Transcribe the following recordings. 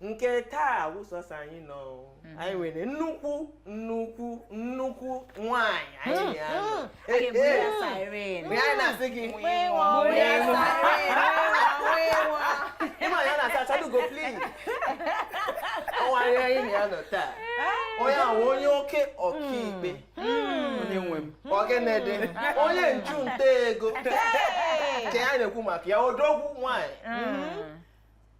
nke taa wụ sọsọ anyị nọ mhm. anyị nwere nnukwu nnukwu nnukwu nwanyị anyị hmm, ya hmm. eh, eh. mgbe anyị na-asị gị ịma ya na-asị Achalugo please ọ nwanyị anyị na ya nọ taa onye ahụ onye oke ọkaikpe hmm. onye nwe m ọ gịnị dị onye nchụnta ego nke anyị na-ekwu maka ya odogwu nwanyị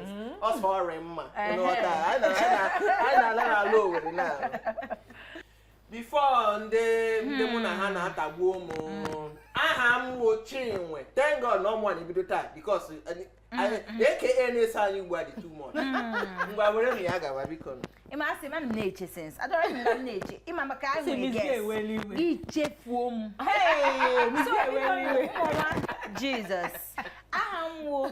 mm. ọ sọ ọrị mma n'ala Owere na before ndị ndị mụ na ha hmm. na-atagbu m hmm. aha m wo Chinwe thank God na ọ mụ na-ebido taa because aka hmm, na-eso anyị ugbu a dị too much ngwa were m ya gawa biko ị ma asị ma m na-eche since adọrọ m na m na-eche ị ma maka anyị nwere guest ị chefuo m Jesus aha m wo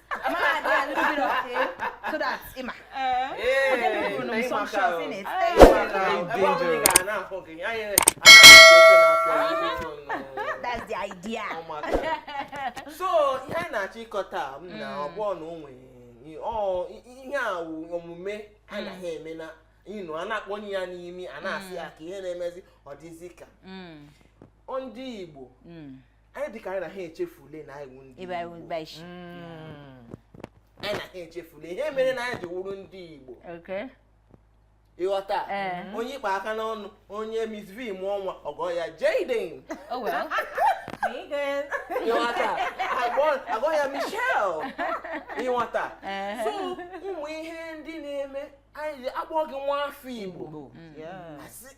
so that ị ma that's the idea so ihe a na-achọ ịkọta m na ọ bụ na o nwere ihe a omume a naghị eme na ịnụ a na-akpọnye ya n'ime a na-asị ya ka ihe na-emezi ọ dịzi ka ndị Igbo anyị dịka anyị na ha echefule na anyị wụ ndị ebe anyị Igbo. wụba isi Mm. anyị na ha echefule ihe mere na anyị ji wụrụ ndị Igbo okay ị ghọta Ee. onye ịkpa aka n'ọnụ onye Miss V mụọ nwa ọ gụọ ya Jaden oh well ị ghọta a gụọ- a gụọ ya Michelle ị ghọta Ee. so ụmụ ihe ndị na-eme anyị ji akpọ gị nwa afọ Igbo Igbo. Yeah. asị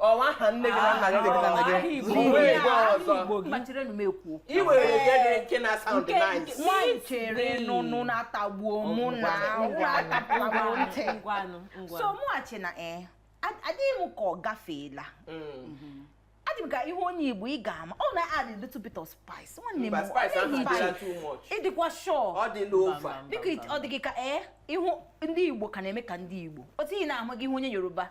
ọ wụ aha nne gị na nna gị na nna gị i were nke dị nke na-sound nice nwaanyị chere na ụnụ na-atagbuo mụ na atapụrụ ntị so mụghachi na eh, adịghị m ka ọ gafeela mm. ọ dị m ka ị hụ onye igbo ị ga-ama ọ na-add a little bit of spice nwanne m ị dịkwa sure ọ dị gị ka ee eh, ihu ndị igbo ka na-eme ka ndị igbo otu ị na-ahụ gị ị hụ onye yoruba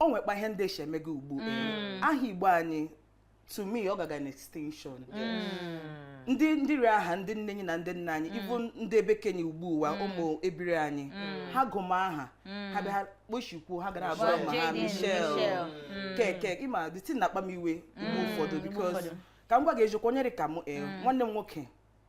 o nwekpa ihe ndị esi emega ugbu mm. aha igbo anyị to me ọ gaga na extinction mm. ndị ndị ri aha ndị nne anyị na ndị nna anyị even mm. ndị ebe kenye ugbu ụwa ụmụ ebiri anyị ha gụma aha ha bịa kpochikwuo ha gara gụma ha Michelle keke ị ma the thing na-akpa m iwe mgbe ụfọdụ because ka m gwa gị eziokwu onye dị ka m eh, nwanne m nwoke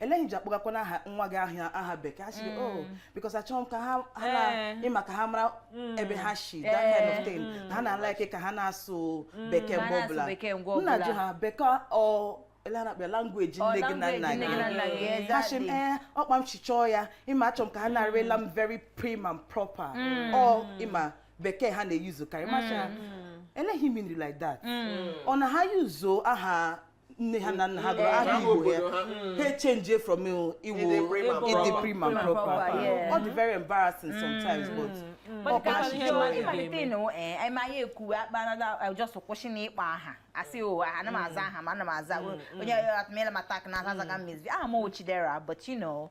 ele ihe i ji akpọgakwana aha nwa gị aha bekee asị gị oh because achọghị m ka ha ha na Eh. ịma ka ha mara ebe ha si that kind of Eh. thing na ha na-alaike ka ha na-asụ bekee ha mgbe na-asụ ọbụla bekee mgbe ọbụla. m na-ajụ ha bekee ọ ele a na-akpọ ya language Ọ, nne gị na language nna nne gị na nna gị, gị exactly. ha sị m ee ọ kpa m si chọọ ya ịma achọ m ka ha na-arịla m very prim and proper ọ ịma bekee ha na-eyuzu karị masha eleghị minri like that ọ na ha yuzuo aha nne ha na nna ha gụrụ aha Aha igbo ya obodo ha. ha echenjie from igbo Ịdị prim and ịdị proper. prim and Proper, proper yeah. ọ dị very embarrassing sometimes but But Ọ ka ka ihe so ma- ị ịmalite ga-eme. ịnụ, eh, anyị ma anyị ekwuwe akpanada I just kwụsị na ịkpọ aha asị o ana m aza aha ma ana m aza onye atụmela m attack na aza azaga Miss V aha m wụ Chidera but you know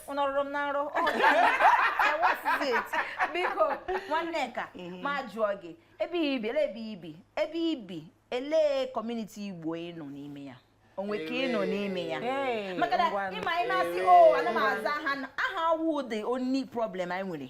nọrụrụ m n'arụ ọ dị anya. I was it. biko nwanne ka m jụọ gị ebe i bi ele ebe i bi ebe i bi elee community igbo ị nọ n'ime ya o nwe nke ị nọ n'ime ya Ee, maka na ngwanụ. ịma anyị na-asị o ana m aza aha na- aha awụ the only problem anyị nwere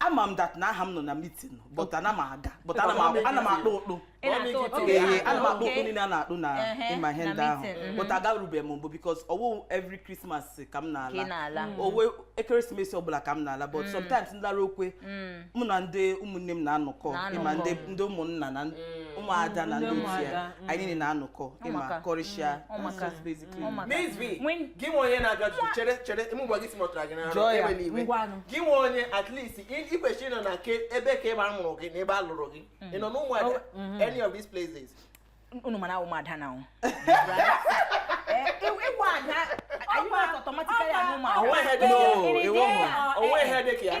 ama m that na aha m nọ na meeting but ana m aga but ana m akpụ- ana m akpụ ụkpụ Ị na-atụ ụtụ oge ya. ihe ana m akpụ ụkpụ Okay. niile a na-akpụ na Ehe, ịma ihe na ndị ahụ meeting, mhm. but agarubeghị m mbụ because ọ wụ every Christmas ka m Ka ị na-ala na-ala. oge ekeresimesi ọbụla ka m na-ala but sometimes m lara ọkwa Mm. mụ na ndị ụmụnne m na-anọkọ Na-anọkọ. ịma ndị ndị ụmụnna na ụmụada na ndị Ndị otu ya ụmụada, mm. anyị niile na-anọkọ ịma maka. kọrịsịa Ọ maka. That's just basic. gị nwe onye na-abịa ọtụtụ chere chere ime ụgbọ gị si mọtara gị n'arụ ewe n'iwe gị nwe onye at least ị kwesịrị ịnọ na nke ebe ka ebe a mụrụ gị na ebe a lụrụ gị mm. ị nọ n'ụmụada oh, mm-hmm. any of these places unu mana ụmụ ada na ahụ ị wụ ada anyị ma automatically ahụ ụmụ ada o nwe ihe dị ka ya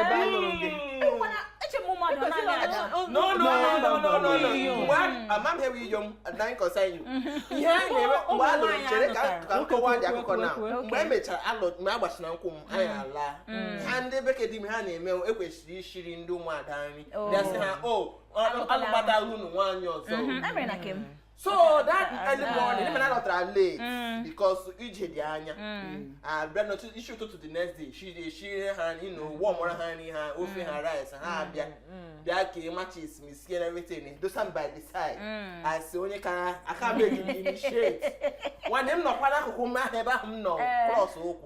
ebe a lụrụ gị amaghị ewe iyo m anaghị concern anyị ihe a na-eme mgbe a lụrụ chere ka m kọwara gị akụkọ na mgbe e mechara alụ mgbe a gbachara nkwụ m anyị ala ha ndị be ke di m ihe ha na-eme ekwesịrị ishiri ndị ụmụada nri gasị ha o alụbata unu nwaanyị ọzọ so that early morning ịma na alọtara late mm. because ije dị anya mm. abịa n'otu isi ụtụtụ the next day she dey shiri ha ino wọmụrụ ha nri ha ofe ha mm. rice ha abịa bịa ka emachisi m isi na everything dosa m by the side asị o nwe ka a ga-eji m initiate nwanne m nọkwa n'akụkụ m ahụ ebe ahụ m nọ eh. cross ụkwụ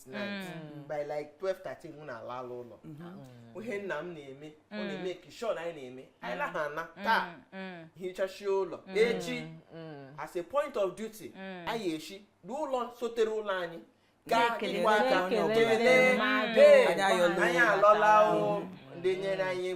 night mm. by like 12:13 mụ na-alala ụlọ mm-hmm. ihe nna m na-eme ọ mm. na-emeki sure na anyị na-eme anyị laha na taa hichachie ụlọ echi as a point of duty anyị eshi n'ụlọ sotere ụlọ anyị gaa kelee anyị alọla ndị nyere anyị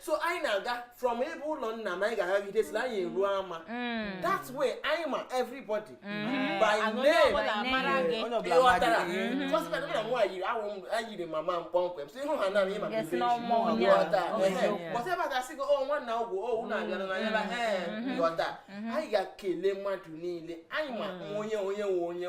so anyị na-aga from ebe ụlọ nna m anyị ga-agagide sila anyị eruo ama mm. that way anyị ma everybody mm. by name ị ghọtara kọsịpet na nwa yiri awụ m eyiri m mama m kpọmkwem so ị hụ ha na ịma ịghọta cos ebe a ga-asị gị o oh, nwanna ọgwụ o oh, unu abịara na ya ee mm-hmm. ịghọta mm-hmm. anyị ga-ekele mmadụ niile anyị ma mm. onye onye nwe onye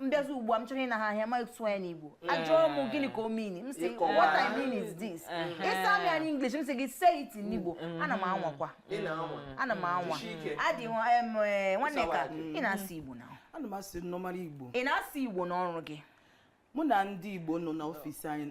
m bịazi ugbu a m chọrọ ịna ha ahịa ma sụọ ya n'igbo ajụọ m gịnị ka o mean m sị Ịkọwa. what i mean is this ị sa m ya n'english m sị gị say it in igbo ana m anwakwa ị na-anwa ana m anwa Jisie ike. adị nwa- em, eh, nwanne ka ị na-asụ igbo na ana m asụ normal igbo ị na-asụ igbo n'ọrụ gị mụ na ndị igbo nọ n'ọfịs anyị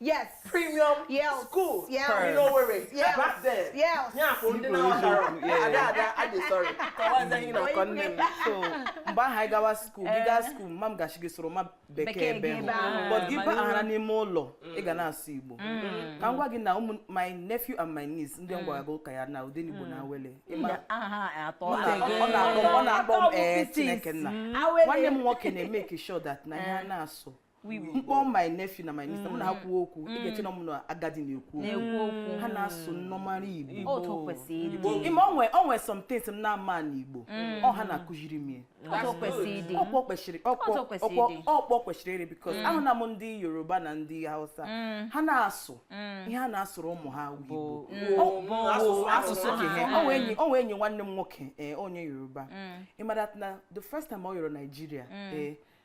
yes premium yes. school yes. in Owerri yes. back then yes. yeah for ndị na-aghọtara ada ada adị sorry kọwazie ihe ị na-akọ nne m so mgbe ahụ anyị gawa school gị gaa school mama m ga-asị gị sụrụma bekee ebe hụ but gị baghara n'ime ụlọ ị ga na-asụ igbo mm. ka m gwa gị na ụmụ my nephew and my niece ndị m gwara gị ụka ya na Odenigbo na Awele ọ na-akpọ m ee eh, chineke nna nwanne m nwoke na-emake sure that na ihe a na-asụ m kpọọ my nephew na my niece mụ na ha mm. kwuo okwu ị ga-eche na mm. mụ na agadi na-ekwu okwu ha na-asụ normal igbo i mean o nwe some things m na-ama na igbo mm. ọ ha na-akụziri m ya ọ kpa o kwesịrị ịrị because ahụna m ndị yoruba na ndị hausa ha na-asụ ihe ha na-asụrụ ụmụ ha igbo asụsụ o nwe enyi nwanne m nwoke eh, onye yoruba ị mara na the first time ọ yọrọ Nigeria ee eh,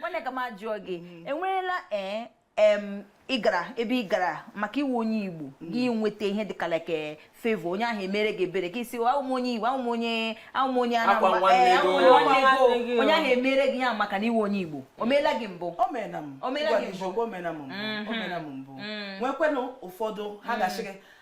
nwanne ka m jụọ gị mm-hmm. enweela ee eh, ị gara ebe ị gara maka ị wụ onye igbo mm. gị nweta ihe dịka like eh, favor onye ahụ emere gị ebere gị sị awụ m onye igbo awụ m onye awụ m onye anambra eh, onye ahụ emere gị ya maka na ị wụ onye igbo o meela gị mbụ o meela m mbụ mm-hmm. mm. nwekwenụ ụfọdụ ha mm. ga-asị gị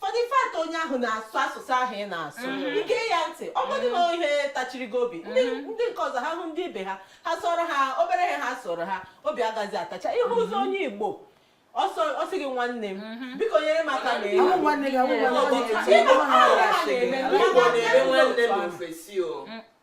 for the fact onye ahụ na-asụ asụsụ ahụ ị na-asụ mhm. ị gee ya ntị ọ bụdị na mhm. ihe tachiri gị obi ndị mhm. nke ọzọ ha hụ ndị ibe ha ha sụọrọ ha obere ihe ha sụọrọ ha obi agaghị atachi ihe ọzọ onye igbo ọ sị gị nwanne m mhm. biko nyere m aka na ya nwanne gị nwanne gị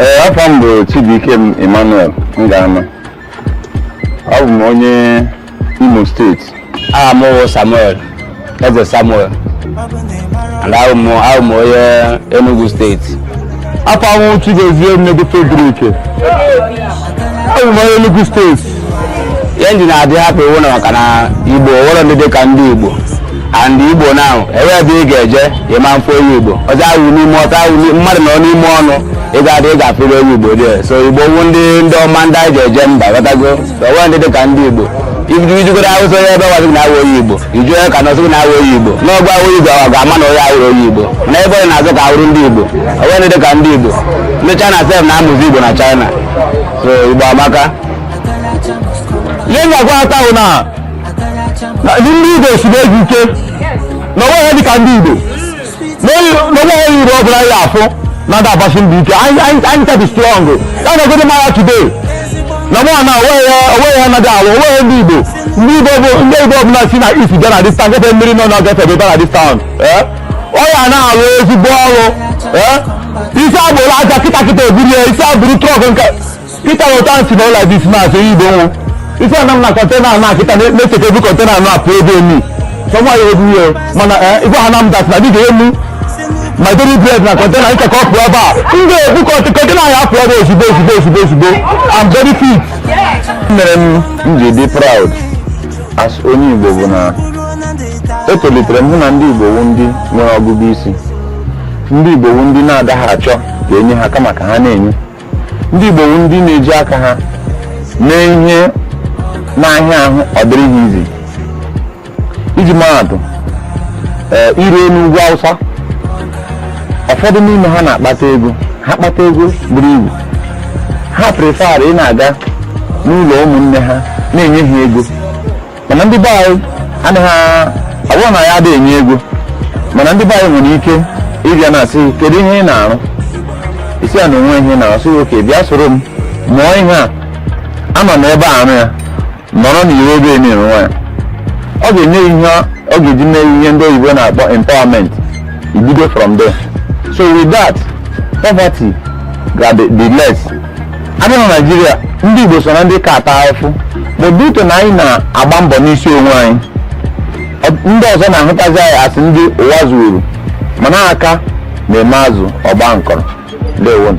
ee afa m bụ Chibuikem Emmanuel Ngama abụ m onye Imo steeti aha m wụ Samuel Eze Samuel and awụ m awụ m onye Enugu steeti afa m Chigozie Nnedike Oduruike abụ m onye Enugu steeti ihe m ji na-adị happy wu na maka na igbo onwero ndị dịka ndị igbo and igbo now ebe ebe ị ga-eje ị ma afụ onye igbo ọzọ ahụ n'ime ọtọ ahụ mmadụ nọ n'ime ọnụ ị ga-adị ị ga-afụrịrị onye igbo there so igbo wu ndị ndị ọma ndị anyị ji eje mba ghọtago onwero ndị dịka ndị igbo i jee ugwu awụsa onye ebe ọwa gị na-awụ onye igbo iju onye ka nọsị gị na-awụ onye igbo n'ọgụ awụ igbo ọ ga-ama na onye awụrụ onye igbo na ebe onye na-azọ ka awụrụ ndị igbo onwero ndị dịka ndị igbo ndị china sef na-amụzi igbo na china so igbo amaka ihe m ga-agwa taa bụ na na ndị igbo siri ezi ike na onwe ha dịka ndị igbo na onwe ha yiri ọ bụla ya afụ na ndị agbasi mbọ ike anyị anyị- anyị ka dị strong ya na ogodo mara today na mụ na onwe ya onwe ya anaghị alụ onwe ya ndị igbo ndị igbo bụ ndị igbo ọbụla si na east bịa na dis town gefe mmiri nọ na gefe bịa na dis town eh? ọ ya na-arụ ezigbo ọrụ ị sị ya buru aja kịtakịta ebulie ị sị ya buru truck nke kịta weta nsi na ụlọ dis mas onye igbo nwụ isi ana m na kọntena anụ akịta na-echeta ebu kọntena anụ apụ ebe emi sọmọ ya ebu ya mana ị gwa ha na m that na dị ga-enye mụ my daily bread na kọntena ịka ka ọ pụọ ebe a m ga-ebu kọntena ya apụ ebe ozugbo ozugbo ozugbo ozugbo I'm very fit mere m ji dị proud as onye Igbo bụ na etolitere m hụ na ndị Igbo wu ndị nwere ọgụgụ isi ndị Igbo wu ndị na-adịghị achọ ka enye ha kama ka ha na-enye ndị Igbo wu ndị na-eji aka ha mee ihe na ha hụ ọ dịrị ha easy iji maa atụ i ruo n'ugwu Awụsa ụfọdụ n'ime ha na-akpata ego ha kpata ego buru ibu ha prefer ịna-aga n'ụlọ ụmụnne ha na-enye ha ego mana ndị be anyị anaghị abụ na ya adịghị enye ego mana ndị be anyị nwere ike ị bịa na-asị gị kedu ihe ị na-arụ ị sị ya na onweghị ihe ị na-arụ ọ sị okay bịa soro m mụọ ihe a anọ na ebe a arụ ya nọrọ n'iwu ebe ị na-enwe ya ọ ga-enye ya ihe ọ ga-eji mee ihe ndị oyibo na-akpọ empowerment ibido from there so with that poverty ga be less a bịa na naijiria ndị igbo so na ndị ka ata ahụfụ but due to na anyị na-agba mbọ n'isi onwe anyị Ọ- ndị ọzọ na-ahụtazi anyị as ndị ụwa zuuru mana aka na-eme azụ ọ gbaa nkọrọ ndewonu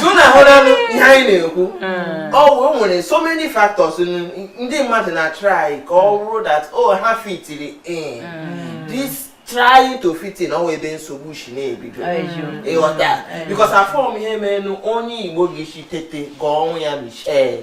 so now a hụlanụ ihe anyị na-ekwu hmm. o nwere so many factors ndị mmadụ na-atry ka ọ bụrụ that o oh, ha fitiri in hmm. this trying to fit in ọ wụ ebe nsogbu si na-ebido ị ghọta because afụrọ m ihe menụ onye igbo ga-esi tete gụọ nwa ya michelle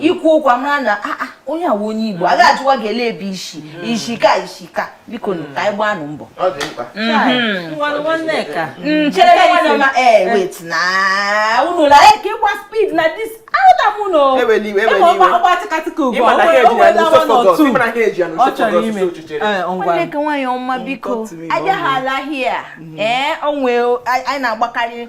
ị kwuo okwu a mara na ah, ah, onye a wụ onye igbo a ga-ajụwa gị ele ebe i si isi ka isi ka biko nụ ka anyị gbaa nụ mbọ unula eke ịgba speed na this Onye ke nwaanyị ọma biko abịahala here ee onwe anyị na-agbakarị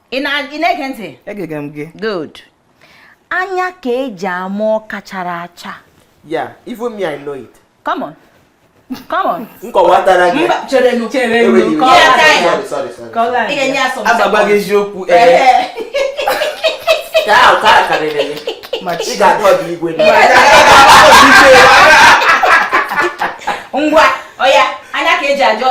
ị na-ege ntị egege m gị good anya ka eji ama ọka chara acha ya even me i know it come on come on nkọwatara gị cherenu cherenu ị ga-enye ya sọm agba gị eziokwu ee ka ahụ ka karịrị gị ị ga-adọ ọdụ igwe ngwa ọya anya ka eji ajọ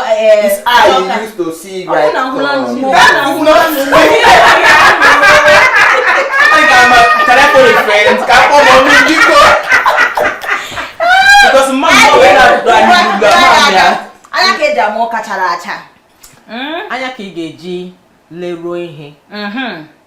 because mama wee na-adụ anyị ugbu a mma ya anya ka eji ama ọka chara acha anya ka ị ga-eji leruo ihe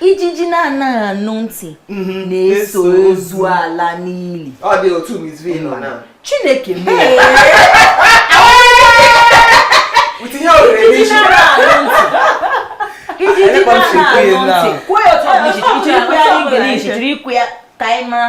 ijiji na-anaghị anụ ntị mhm. na-eso ozu ala n'ili chineke mee ijiji na-anaghị anụ ntị kwuo ya otu ọ bụ iji kwuo ya n'English jiri kwuo ya ka anyị mara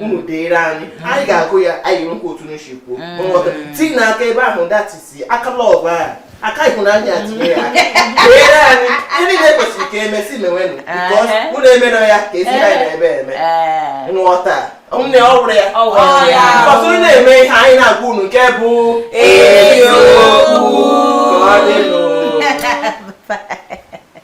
unu deere anyị anyị ga-agụ ya anyị anụkwa otu unu si kwuo mm. tii nụ aka ebe ahụ that is aka love ahụ aka ịhụnanya tinye ya deere anyị ihe niile kwesịrị ka emesi mewenụ unu emere ya ka ezi anyị na-ebe eme nghọta nne ọ wụrụ ya ọtụtụ na-eme ihe anyị na-agwa unu nke bụ eziokwu ka ọ dịnụ